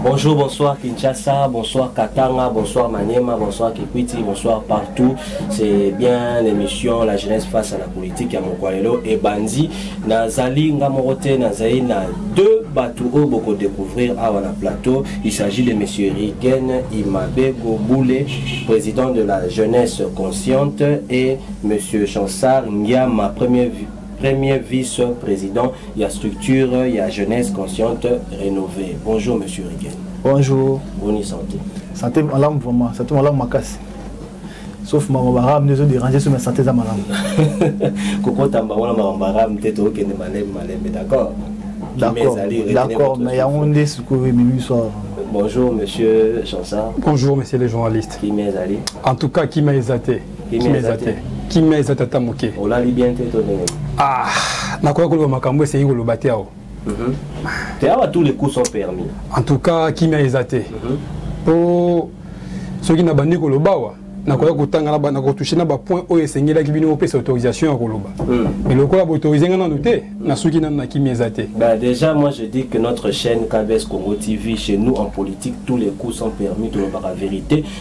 Bonjour, bonsoir Kinshasa, bonsoir Katanga, bonsoir Maniema, bonsoir Kikwiti, bonsoir partout. C'est bien l'émission La jeunesse face à la politique ya Mokwalelo et Bandi. Nazali Ngamorote, Nazali na deux bateaux oyo boko découvrir awa na plateau. Il s'agit de monsieur Rigen Imabego Boule, président de la jeunesse consciente et monsieur Chansar Ngiama, premier Premier vice president ya structure ya jeunesse consciente renovée. Bonjour monsieur Rigen. Bonjour. Bonne santé. Santé malamu vraiment, santé malamu makasi. sauf makambo barabe nde ezoderange so masante eza malamu kokota mbango na makambo barabe te tokokende malembe malembe d'accord d'accord mais yango nde sikoyo ememi biso awa Bonjour Monsieur Chansard. Bonjour Monsieur le journaliste. Kimia Zali. En tout cas, Kimia Ezate. kimia eza te kimia eza te ata moke olali bien te to ndenge ah nakoya koloba makambo esengeli koloba te awa mhm. te awa tous les coups sont permis en tout cas kimia eza te mhm. po soki nabandi koloba awa nakoya kotanga nakotushe na bapoint oyo esengelaki bino opesa autorisation ya koloba hmm. mais lokola baautorise nga nanu te nasuki nanu na kimia eza te bah, déjà moi je dis que notre chaîne kbs congo tv chez nous en politique tous les coups sont permis tolobaka vérité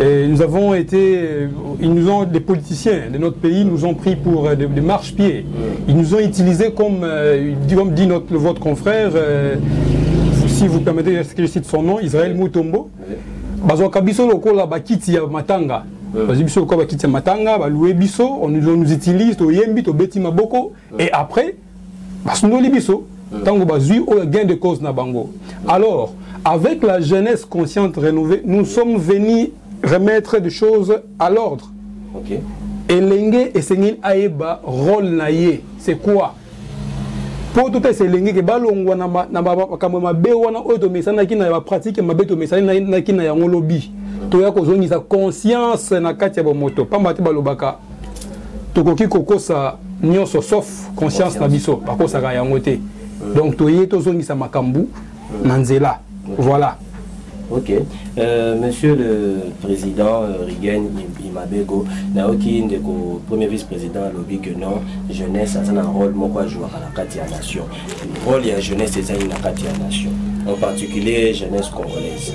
Et nous avons été, euh, ils nous ont, des politiciens de notre pays nous ont pris pour euh, des, des marche-pieds. Ils nous ont utilisés comme, euh, comme dit notre, votre confrère, euh, si vous permettez que je cite son nom, Israël Mutombo. bazwaka biso lokola bakiti ya matanga hmm. bazwi biso lokola bakiti ya matanga baloue biso on nous utilise toyembi tobeti maboko hmm. et après basundoli biso ntango bazwi oyo gain de cause na bango alors avec la jeunesse consciente renouvelée nous sommes venus remettre des choses à l'ordre okay. elenge esengeli ayeba role na ye c'est quoi mpo topesa elenge ke balongwa na makambo mabe wana oyo tomesanaki na bapratike mabe tomesanaki na yango lobi toya kozongisa conscience na kati ya bomoto mpamba te balobaka tokoki kokosa nyonso sauf conscience na biso bakosaka yango te euh. donc toye tozongisa makambo euh. na nzela voilà Ok. Euh, monsieur le Président euh, Rigen Imabego, naoki ndeko premier vice-président alobi que non, jeunesse a un rôle moko à jouer à la carte nation. Rôle la jeunesse est une carte nation. En particulier jeunesse congolaise.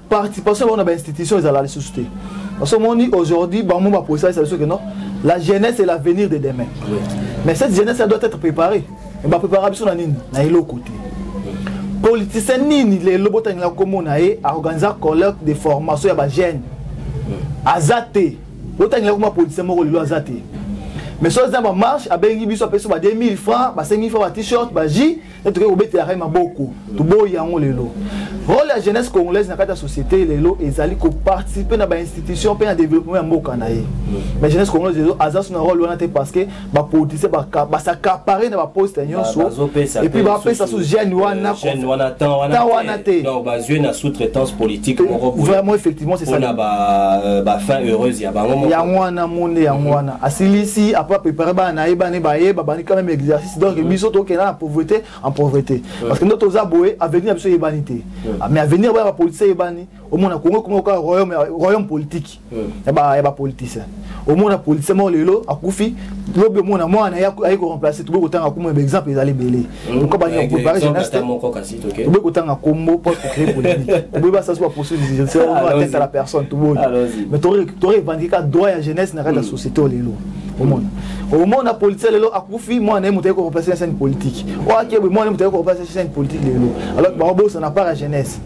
participation bango na bainstitution ezala lisusu te parce omoni aujourd'hui bango baposalisa biso ke non la jeunesse et l'avenir de demain mais cette jeunesse elle doit être préparée baprépara biso na nini na eloko te politicien nini lelo botangela komona ye aorganisa colloque de formation ya bajeune aza te botangela koma politicien moko lelo aza te mais soki aza na bamarche abengi biso apesi ba 2000 francs ba 5000 francs ba t-shirt ba jus nde tokoki kobetelaka ye maboko toboyi yango lelo role ya jeunesse congolaise na kati ya société lelo ezali koparticipe na bainstitution mpe na développement ya mboka na ye mais jeunesse congolaise lelo aza so na role wana te parce que bapolitisien basacapare na baposte nyonso epuis bapesa so jeune wana temps wana te bazwi na sous-traitance politique moko vraiment effectivement c'est ça na bafin euh, heureuse ya bango yango wana monde yango wana asilisi apres prépare bana na ye bana ye baye babandi quand même exercice donc mm. biso tokenda na pauvreté en pauvreté parce que nde toza boye avenir ya biso eyebani te ah, mais avenir bana bapoliticien eyebani omona kongo kongo kaka royaume royaume politique ya bapoliticien omona politicien moko lelo akufi lobi omona mwana ye aye koremplace toboyi kotanga kombo ba exemple ezali ebele pourkoi balinga kopare jeunesse te toboyi kotanga kombo po tocree polémique toboyi basasi baposuite judiciaire oa tete ya la personne toboyi mais torevendiqueka droit ya jeunesse na kati ya société oyo lelo omona omona politicien lelo akufi mwana na ye moto aye koreplace na chaine politique oyo akebwe mwana ye moto aye koreplace na chaine politique lelo alors bango bosana par ya jeunesse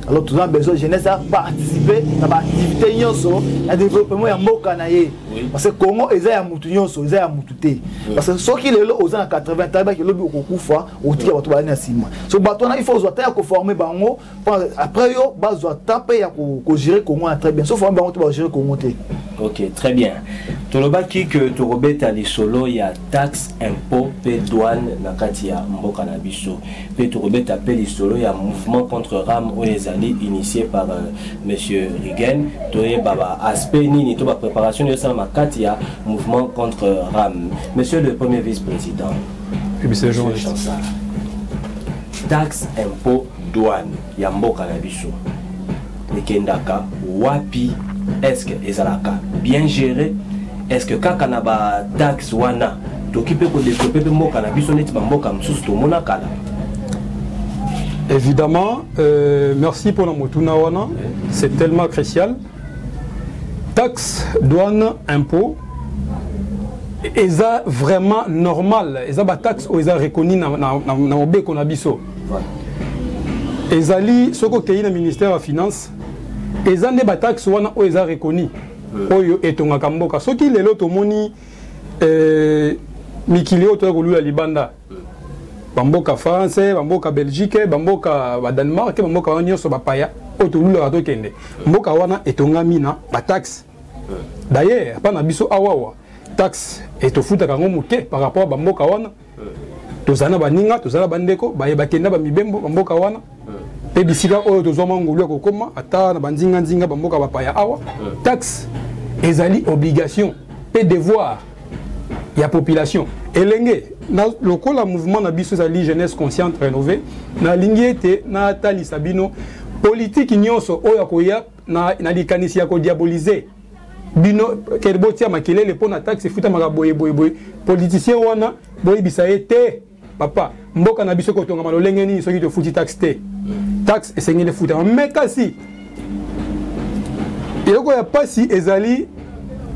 alors toza besoin jeunesse aparticipe na baactivité nyonso na développement ya mboka na ye parce que congo eza ya motu nyonso eza ya motu te parce que soki lelo oza na 80 tayebaki elobi okokufa otika bato balani na nsima so bato wana ifo ozwa ta ya koforme bango après yo bazwa temps mpe ya kogere congo wana très bien sauf wana bango te bagere congo te ok très bien tolobaki ke tokobeta lisolo ya taxe impôt mpe douane na kati ya mboka na biso mpe tokobeta mpe lisolo ya mouvement contre ram oyo ezali initie par euh, monsieur rigen toyeba baaspect nini to bapréparation nini esalama kati ya mouvement contre ram monsieur le premier vice président taxe impôt Douane ya mboka na biso ekendaka wapi? Est-ce que ezalaka bien géré? Est-ce que kaka na ba taxes wana toki pe ko développer pe mboka na biso neti ba mboka mosusu tomona kala? Évidemment, euh, merci pour la motuna wana, c'est tellement crucial. Taxes, douane, impôts, eza vraiment normal eza bataxe oyo eza reconi na mobeko na biso ezali soki okei na ministère ya finance eza nde bataxe wana oyo eza reconi hmm. oyo etongaka mboka soki lelo tomoni eh, mikili oyo toya kolula libanda hmm. bamboka français bamboka belgique bamboka badanemark bamboka wana nyonso bapaya oyo tolulaka tokende hmm. mboka wana etongami na bataxe d'ailleurs epa na biso awawa taxe etofutaka yango moke par rapport ya bamboka wana tozala na baninga tozala na bandeko baye bakende na bamibembo bamboka wana mpe bisika oyo tozwa mwa ngolu ya kokoma ata na banzinganzinga bamboka bapaya awa taxe ezali obligation mpe devoir ya population elenge na, lokola mouvement na biso ezali jeunesse consciente rénové nalingi ete natalisa bino politiki nyonso oyo akoya na, na likanisi ya kodiabolize bino kede botia makelele mpo na taxe efutamaka boye boye boye politicien wana boyebisa ye te papa mboka na biso kotongama lolenge nini soki tofuti taxe te taxe esengeli efutama me kasi eloko ya mpasi ezali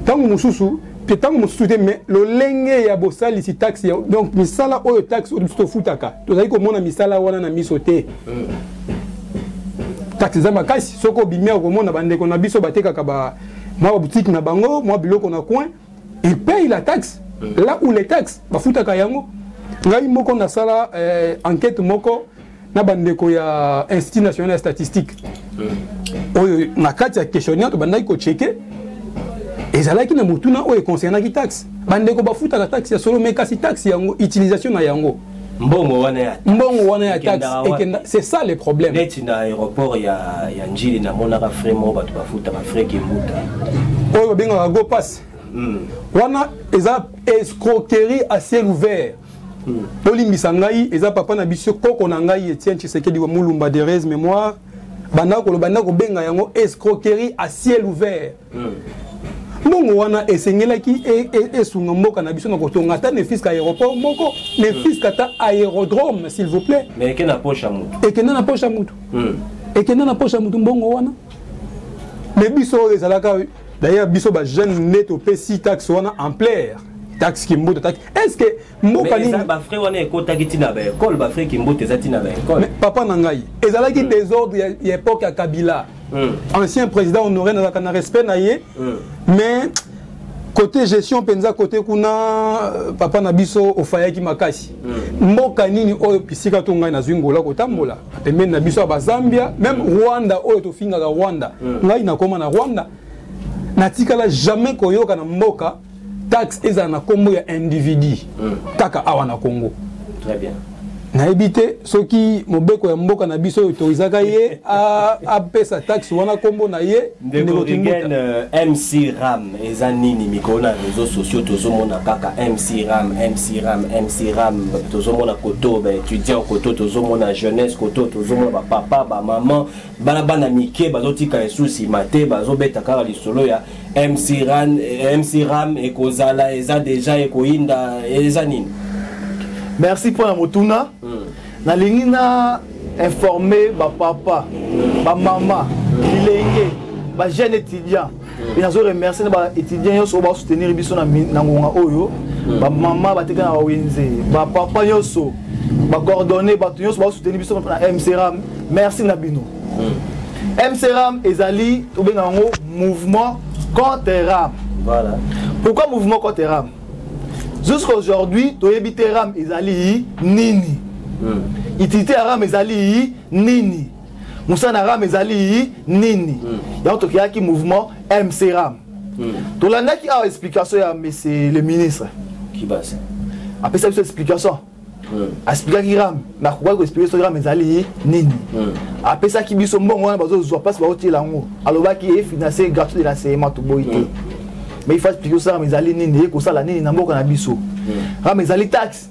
ntango mosusu te ntango mosusu te mais lolenge ya bosalisi taxe ya donc misala oyo taxe oyo biso tofutaka tozali komona misala wana na miso te taxe eza makasi soki obimi okomona bandeko na biso batekaka ba mwa babutike na bango mwa biloko na coin il paye la taxe là où les taxes bafutaka yango ngai moko nasala euh, enquête moko na bandeko ya institut national ya statistique hmm. oyo na kati ya questionnaire tobandaki kocheke ezalaki na motuna oyo econcernaki taxe bandeko bafutaka taxe ya solo me kasi taxe yango utilisation na yango mbongo wana ya mbongo wana ya taxe ekenda c'est ça le problème neti na aéroport ya ya njili namonaka frais moko bato bafutaka frais kimbuta oyo babengaka go pass hmm. wana eza escroquerie à ciel ouvert bolimbisa ngai eza papa na biso koko na ngai etienne tshisekedi wa mulumba de res mémoire banda koloba nda kobenga yango escroquerie à ciel ouvert hmm. mbongo wana esengelaki e, e, esunga e mboka na biso na kotonga ata nefiska aéroport moko nefiska ata aérodrome s'il vous plaît ekenda na poche ya motu ekenda na poche ya motu hmm. ekenda na poche ya motu mbongo wana me biso oyo ezalaka d'ailleurs biso bajeune nde topesi taxe wana ampleur taxe kimbuta taxe est ce que mboka nini bafrai wana ekotaki ntina baekole bafrai kimbote eza ntina baekole papa na ngai ezalaki hmm. désordre ya époque ya kabila hmm. ancien président honoré nazalaka na respect na ye hmm. mais côté gestion mpenza côté kuna euh, papa na biso ofayaki makasi mm. mboka nini oyo bisika to ngai nazwi ngola kotambola pembeni na biso ya bazambia meme mm. rwanda oyo tofingaka rwanda mm. ngai nakoma na rwanda natikala jamais koyoka na mboka taxe ezala na nkombo ya individu mm. kaka awa na congo Très bien. nayebi te soki mobeko ya mboka na biso autorisaka ye apesa taxe wana nkombo na ye ndekokigen euh, mc ram eza nini mikolo na réseau sociaux tozomona kaka mc ram mc ram mc ram tozomona koto baétudiant koto tozomona jeunesse koto tozomona bapapa bamaman bana bana mike bazotika esu nsima te bazobeta kaka lisolo ya mc ran eh, mc ram ekozala eza deja ekoyinda eza nini merci mpo na motuna hmm. nalingi na informe bapapa bamama bilenge bajeune étudiant mpe nazo remercie na baétudiant nyonso oyo basoutenir biso na ngonga oyo bamama bateka na bawenze bapapa nyonso bacoordonne bato nyonso basoutenir biso na mcram merci na bino mcram ezali tobenga yango mouvement contre ram voilà. pourquoi mouvement contre ram jusqu'à aujourd'hui toyebi te ram ezali nini hmm. utilité ya ram ezali nini mosala na ram ezali nini hmm. yango tokeyaki mouvement mc ram hmm. tolandaki awa explication ya monsieur le ministre apesa biso explication hmm. asplikaki ram nakokaki koexplike soki ram ezali nini apesaki biso mbongo wana bazozwa mpasi baotiela yango alobaki efinance gratuit de l'enseignement toboyi te mais il faut explike soki ram ezali nini ekosala nini na mboka na biso ram ezali taxe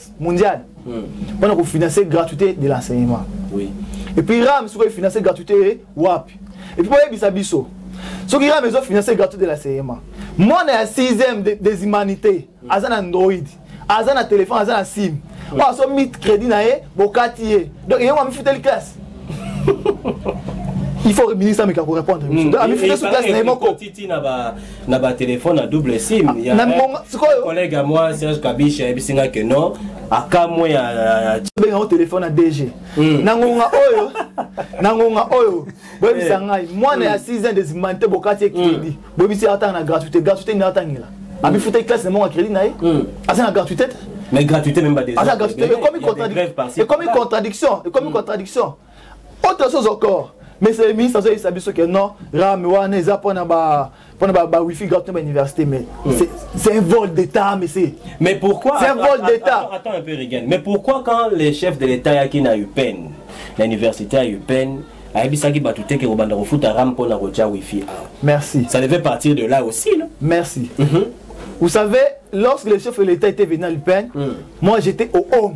mondial mpona kofinancer gratuité de l'enseignement et puis ram soki efinancer gratuité wapi et puis boyebisa biso soki ram ezofinancer gratuité de l'enseignement mwana ya 6e des humanités aza na android aza na telefone aza na sim oyo asomi crédit na ye bokati ye donc ye ngo amifuteli classe il faut ministre ameka korépondre biso amifute su classe na ye moko na ba téléphone à double sim ah, ya collègue à moi Serge Kabiche ayebisi nga que non akamwe ya benga o téléphone à DG hmm. na ngonga oyo na ngonga oyo boyebisa eh. ngai mwana ya 6 hmm. ans des mante bokati ye crédit hmm. boyebisi atanga na gratuité gratuité ni atangela amifutaki classe na monga crédit na ye aza na gratuité te mais gratuité même ba des aza gratuité ekomi contradiction ekomi contradiction autre chose encore mais le ministre azoyebisa biso que non rame wana eza mpona ba mpona ba, ba wifi gratuit ba université mais mm. c'est un vol d'état mais c'est mais pourquoi c'est un vol d'état attends, attends un peu Regan mais pourquoi quand les chefs de l'état yaki na UPEN na université ya UPEN ayebisaki bato te ke kobanda kofuta rame mpo na kotya wifi awa merci ça devait partir de là aussi non merci mm -hmm. vous savez lorsque le chef de l'état était venu à l'UPEN mm. moi j'étais au home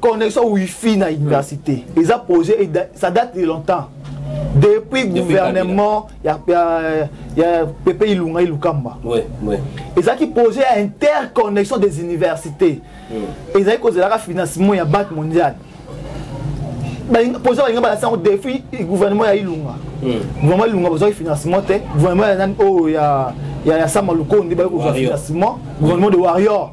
connexion wifi na université eza projet ça date de longtemps depuis gouvernement ya, ya, ya pepe ilunga ilukamba ouais, ouais. ezalaki projet ya interconnexion des universités mm. ezalaki kozelaka financement ya banque mondiale projet balinga balasi yango depuis gouvernement ya ilunga mm. gouvernement ya ilunga bozwaki financement te gouvernement ya nani oyo oh, ya, ya, ya sama lukonde baye kozwa financement gouvernement de warrior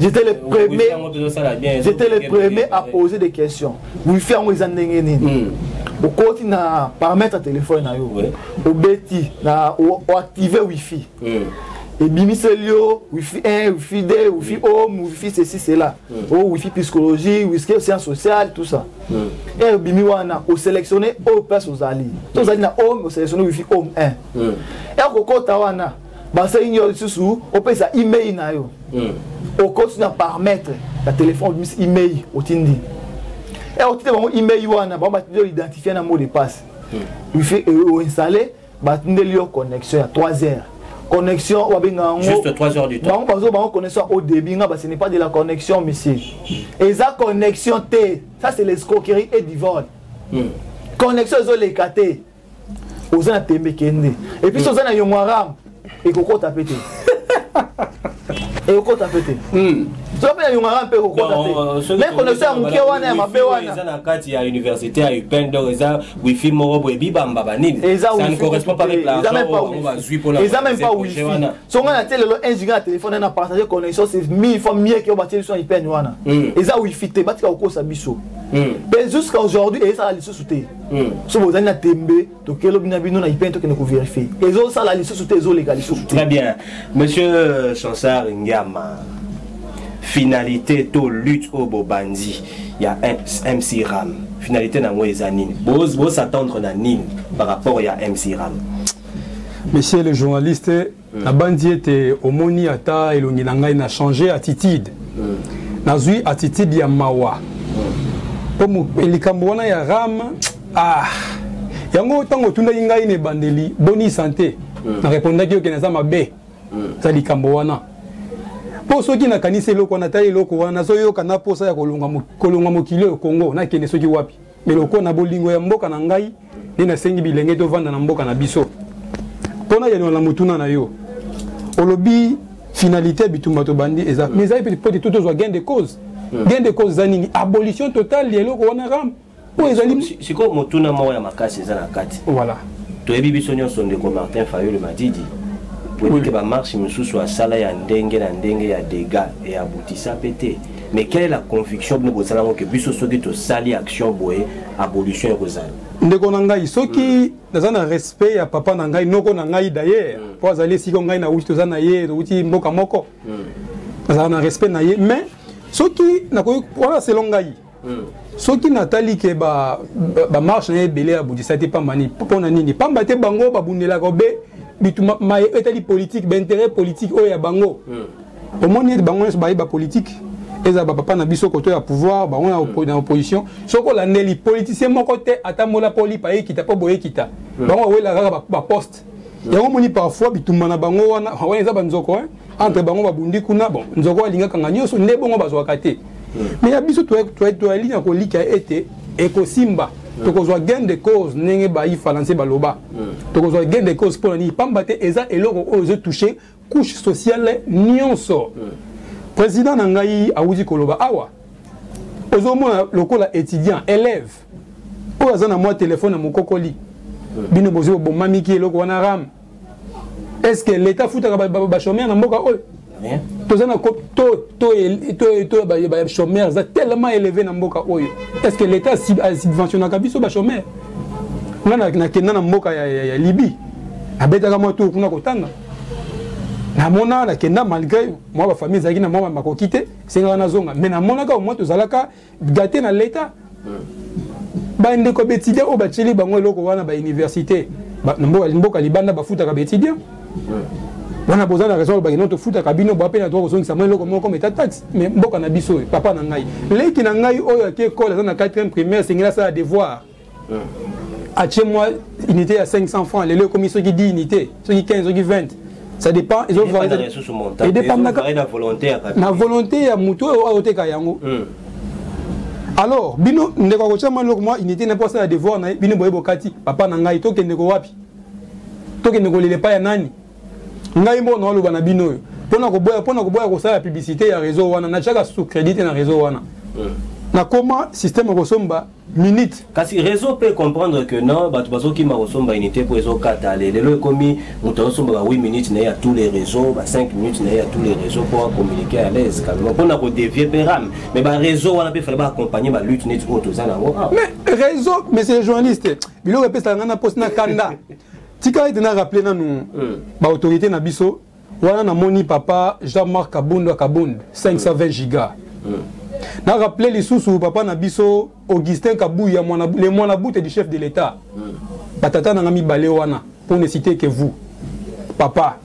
J'étais le premier. J'étais le premier à poser des questions. Wi-Fi yango eza ndenge nini? okoti na paramètre ya telefone na yo obeti na oactive wifi ebimiseli yo wifi 1 wifi 2 wifi home wifi ceci cela o wifi psychologie wifi science sociale tout ça e obimi wana oselectionne oyo place ozali to ozali na home oselectionne wifi home 1 e okokota wana basengi yo lisusu opesa email na yo hmm. okoti na parametre ya telefone obimisi email otindi e eh, otindi bango email wana bango batindi yo identifie na mot de passe hmm. wifi euh, oinstalle batindeli yo connexion ya 3 heures connexion wabenga yango bango bazo bango connexion au début nga basi n'est pas de la connexion monsieur eza connexion te ça c'est l'escroquerie et divole hmm. connexion ezoleka te oza na tembe kende epuis oza na yongo arabe ekokota mpe te ekokota mpe te soki mpe na yongo arabe mpe ekokota te me koneso ya moke wana ya mabe wana eza na kati ya université ya upn donc eza wifi moko boye bibamba banini eza meme pas wifi so ngai natie lelo un giga na telefone na partage connexion c'est mille fois mieux ke oyo batie biso na upn wana eza wifi te batika kokosa biso mpe jusqu'à aujourd'hui ezala lisusu te Hmm. soki bozali na tembe tokei lobi na bino na ipene tokende koverifie ezosala lisusu te ezoleka lisusu très bien monsieur euh, chansar ngiama finalité to lutte oyo bobandi ya mc ram finalité na yango eza nini bosattendre na nini par rapport ya mc ram monsieur le journaliste mm. nabanzi ete omoni ata elongi na ngai na change attitude mm. nazwi attitude ya mawa mpo mm. likambo wana ya ram ah, yango ntango otundaki ngai na ebandeli boni sante mm. na repondaki oke naza mabe mm. za likambo wana mpo soki nakanisi eloko wana ta eloko wana nazoyoka na mposa ya kolonga mokili oyo kongo nakende soki wapi eloko na bolingo ya mboka na ngai nde nasengi bilenge tovanda na mboka na biso mpo na yanola na motuna na yo olobi finalité ya bitumba tobandi eza mais ezali mpe pote to tozwa gain de cause hmm. gain de cause eza nini abolition totale ya eloko wana ram oyo ezali sikoyo motuna moko ya makasi eza na kati voilà toyebi biso nyonso ndeko martin fayulu madidi oyebi te bamarche mosusu asala ya ndenge na ndenge ya dega eyabutisa mpe te mais quelle est la conviction bino bozala yango ke biso soki tosali action boye abolition ekozala ndeko na ngai soki mm. naza na respect ya papa na ngai noko na ngai d'ailleurs mm. mpo azali esika ngai na wuti toza na ye towuti mboka moko mm. nazala na respect na ye mais soki nakoki wana selo ngai mm. soki natali ke bamarche na ye ebele abundisa te pamba nini mpo na nini pamba te bango babundelaka obe bitu maye etali politike bainteret politike oyo ya bango mm. omoni ete bango nyonso bayeba politike ezala bapapa na biso koto ya pouvoir bango na opposition soki olandeli politicien moko te atambola mpo lipa ekita mpo boye ekita bango bawela kaka baposte yango omoni parfois bitumba na bango wana wana eza banzoko entre bango babundi kuna bon nzoko alingaka nga nyonso nde bongo bazwaka te mais ya biso toyali na kolika ete ekosimba tokozwa gain de cause ndenge bayi falanse baloba tokozwa gain de cause mpo na nini mpamba te eza eloko oyo ezotouche couche sociale nyonso président na ngai awuti koloba awa ozomona lokola étudiant élève oyo aza na mwa telefone ya mokokoli bino bozwi bobomamiki eloko wana ram est ce que l'état afutaka bachomere na mboka oyo toza na to bachomere eza tellement élevé na mboka oyo est ce que l'état asubventionnaka biso bachomere nga nakenda na mboka ya libye abetaka mwa tour kuna kotanga namona nakenda malgré mwa bafamille ezalaki na mwa makoki te esengaka nazonga mais namonaka omoi tozalaka gate na leta bandeko baétudiant oyo batyeli bango eloko wana bauniversité mboka libanda bafutaka baétudiant wana boza na raison olobaki no tofutaka bino boa mpe na toka kozongisa mwa eloko moko meta taxe mais mboka na biso oyo papa na ngai leki na ngai oyo ake ekole aza na 4e primaire esengeli asala devoir atie mwa unité ya 500 francs lelo ekomi soki 10 unité soki 15 soki 20 ça dépend ezodependaka na volonté ya motu oyo aoteka yango hmm. alors bino ndeko akotia mwa eloko mwa unité na mpo asala devoir na ye bino boye bokati papa na ngai tokende ko wapi tokende kolela epai ya nani ngai moko naoloba na bino oyo mpona koboya mpona koboya kosala publicité ya réseau wana natiaka sous crédit te na réseau wana hmm. nakoma système ya kosomba minute kasi réseau peut comprendre que non bato bazokima kosomba unité mpo ezokata le lelo ekomi moto azosomba ba 8 minutes na ye ya tous les réseaux ba 5 minutes na ye ya tous les réseaux mpo acommuniquer à l'aise calmement mpo na kodevie mpe rame mais baréseau wana mpe fale baaccompagne balutte neti oyo toza na yango awa mais réseau monsieur journaliste biloko epesaka ngai na mposi na kanda tika ete na rappeler nanu baautorité na biso wana namoni papa jean marc kabund kabund 520 giga na rappele lisusu papa na biso augustin kabuya le mwana bute du chef de l'état batata nanga mibale wana mpo ne cite que vous papa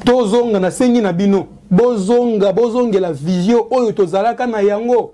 tozonga nasengi na bino bozonga bozongela visio oyo tozalaka na yango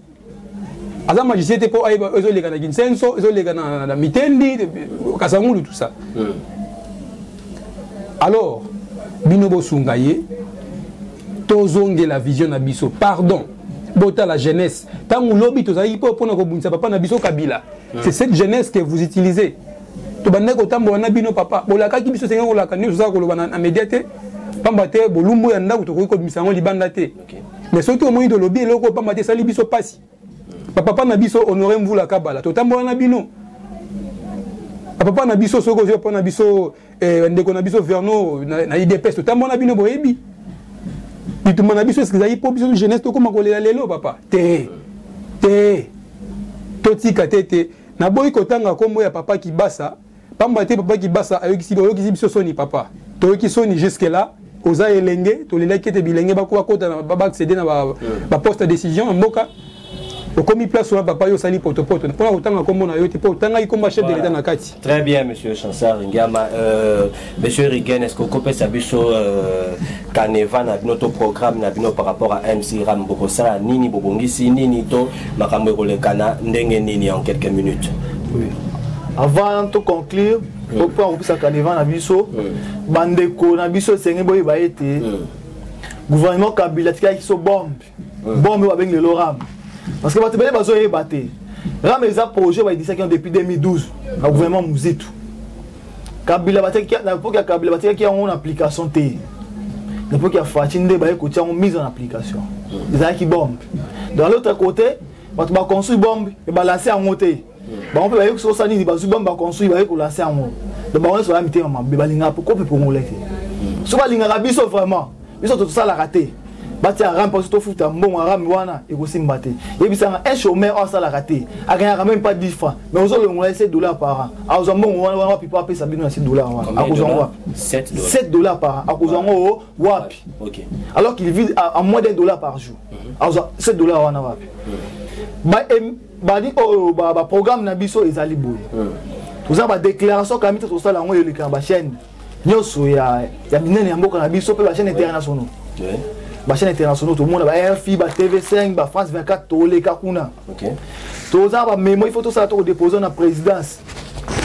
aza magicien te mpo ayeba ezoleka na kinsenso ezoleka na, na mitendi kasangulu tout ça mm. alors bino bosunga ye tozongela vision na biso pardon botala jeunesse ntango lobi tozalaki mpo mpona kobundisa papa na biso kabila mm. c'est cette jeunesse que vous utilisez tobandaki kotambola na bino papa bolakaki biso esengeli kolaka nyonso oza koloba na media te mpamba te bolumbu ya ndako tokoki kobimisa yango libanda te mais soki omoni tolobi eloko opamba te esali biso mpasi bapapa na biso honore mvula kabala totambola na bino bapapa na biso soki ozwi papa na biso eh, ndeko na biso verno na idps totambola na bino boyebi bitumba na biso eske ezali mpo biso jeunesse tokóma kolela lelo papa te te totika te te naboyi kotanga nkombo ya papa kibasa pamba te papa kibasa ayokisi bayokisi biso soni papa toyoki soni jusque là oza elenge tolelaki ete bilenge bakoba kota baaccéder na baposte ya décision na mboka okomi place wana papa yo osali potopoto mpona kotanga nkombo na yo te mpo otangaki nkombo ya chef de l'état na kati très bien monsieur chansar ngiama euh, Monsieur Rigen, est-ce que vous pouvez savoir euh, canevas na bino to programme na bino par rapport à MC Ram bokosala nini bobongisi nini to makambo ekolekana ndenge nini en quelques minutes oui. Avant de conclure, oui. opo akopesa canevas na biso oui. bandeko na biso esengeli boyeba ete oui. gouvernement kabila atikaki biso bombe bombe oyo babengi lelo ram parce que bato ebele bazoyeba te ram eza projet baedisaki yango depuis 2012 na gouvernement muzitu kabila batikaki na epoke ya kabila batikaki yango na application te na epoke ya faci nde baye kotia yango mise en application ezalaki bombe dans l'autre côté bato baconstruit bombe ebalanse yango te bango mpe bayoki sosa nini bazwi bambo baconstruit baye kolanse yango do bango nyonso baya mitema mabe balingaka poko mpe congolais te so balingaka biso vraiment biso tosalaka te batia rame mpo tofuta mbongo ya rame wana ekosimba te yebisanga un chômeur oyo asalaka te akendaka meme pas 10 francs mais ozolongola ye 7 dollar par an akozwa mbongo wana wana wapi mpo apesa bino na 7 dollar wana akozwa ngo wapi 7 dollar par an akozwa ngo wapi alors qu'il vide à moins d'un dollar par jour mhm. akozwa 7 dollar wana wapi mhm. badi oyo oh, oh, baprogramme na biso ezali boye hmm. toza badéclaration kamita tosala yango eleka na bachaîne nyonso ya minene ya mboka na biso mpe bachaîne internationaux bachaîne internationaux tomona ba rfi ba tv5 ba france 24 toleka kuna toza bamemo il faut tosala tokodépose na présidence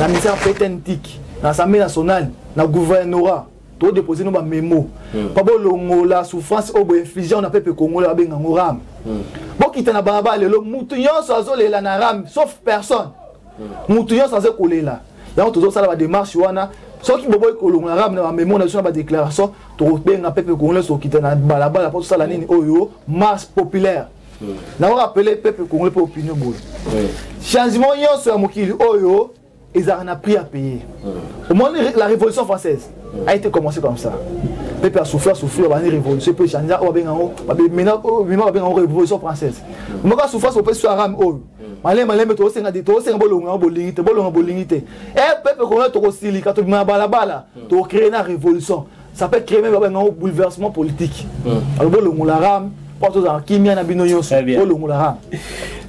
na ministère ptntique na assemblée nationale na gouvernorat to déposer no ba memo hmm. pa bolongola souffrance oyo boinflige ona pepe kongola babenga ngo ram hmm. bokita na balabala lelo motu nyonso azolela na ram sauf personne hmm. motu nyonso aza kolela yango tozosala bademarche wana soki boboyi kolongola ram na bamemo na biso na badéclaration tokobenga pepe kongolais tokita na balabala mpo tosala nini oyo marche populaire naorapele pepe kongolais mpe opinion boye changement nyonso ya mokili oyo ezalaka na prix à payer mm. omoni la révolution française mm. a été commencé comme ça pepe asouffri asouffri abandi révolution mpe changea oyo babenga yango bima babenga yango révolution française mm. moko asouffrance opesi yo arame oyo malembe malembe tosenga te tosenga bolonga yango bolingi te bolonga bolingi te e pepe kongona tokosilika tobima na balabala tokocree na révolution ça peut créer même babenga ngo bouleversement politique hmm. alobi olongola rame mpo tozala kimia na bino nyonso eh olongola rame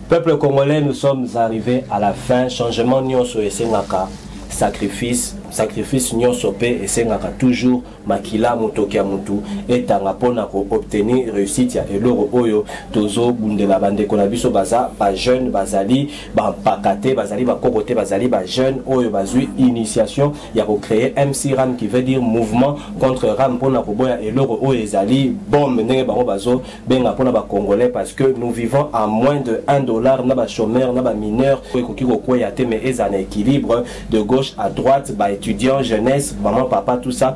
peuple congolais nous sommes arrivés à la fin changement nyonso esengaka sacrifice sacrifice nyonso mpe esengaka toujours makila motoki ya motu etanga mpo na koobtenir réussite ya eloko oyo tozobundela bandeko na biso baza bajeune bazali bampaka te bazali bakoko te bazali bajeune oyo bazwi initiation ya kocreye mc ram qui veut dire mouvement contre ram mpona koboya eloko oyo ezali bombe ndenge bango bazobenga mpona bacongolais parce que nous vivons à moins de 1 dollar na bachomeur na bamineur oyo ekoki kokweya te mais ezala na équilibre de gauche à droite baétudiant jeunesse maman papa tout ça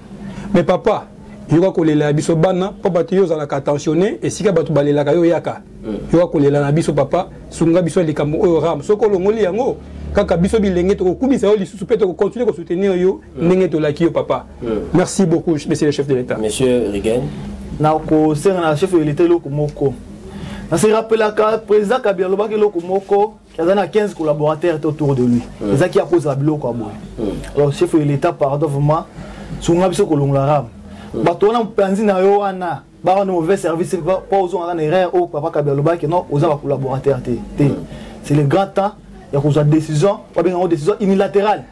mais papa yoka kolela ya biso bana mpo bato yo ozalaka attentionne esika bato balelaka yo yaka mm. yoka kolela na biso papa sunga biso likambo oyo ram soki olongoli yango kaka biso bilenge tokokumisa yo lisusu mpe tokocontinue kosoutenir yo mm. ndenge tolaki yo papa mm. merci beaucoup monsieur le chef de l'état monsieur rigen nakosenga na chef de l'état eloko moko naserappelaka président kabila alobaki eloko moko aza na 15 collaborateurs te autour de lui ezaki ya kozala biloko ya boye alors chef ya l'état pardon vraiment sunga biso kolongola rame bato wana mopanzi na yo wana baka na mauvais service mpo ozongaka na erreur oyo papa kabila alobaki non oza bacollaborateur te te c'est le grand temps ya kozwa décision babenga yango décision unilatérale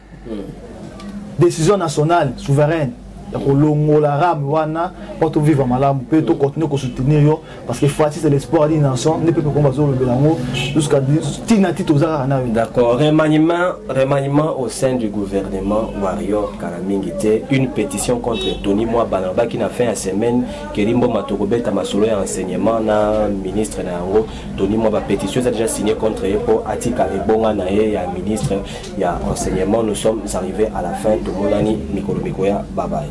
décision nationale souveraine ya kolongola rame wana mpo tovivre malamu mpe tocontinue kosoutenir yo parce que fati c'est l'espoir d'une nation nde pepe kongo bazolobela yango jusqu'à tina ti toza kaka nayo d'accord remaniement remaniement au sein du gouvernement warrior kala mingi te une pétition contre tony mwaba nalobaki na fin ya semaine kelimboma tokobeta masolo ya enseignement na ministre na yango tony mwaba pétition eza déjà signé contre ye mpo atikala ebonga na ye ya ministre ya enseignement nous sommes arrive à la fin tomonani mikolo mikoya bye bye.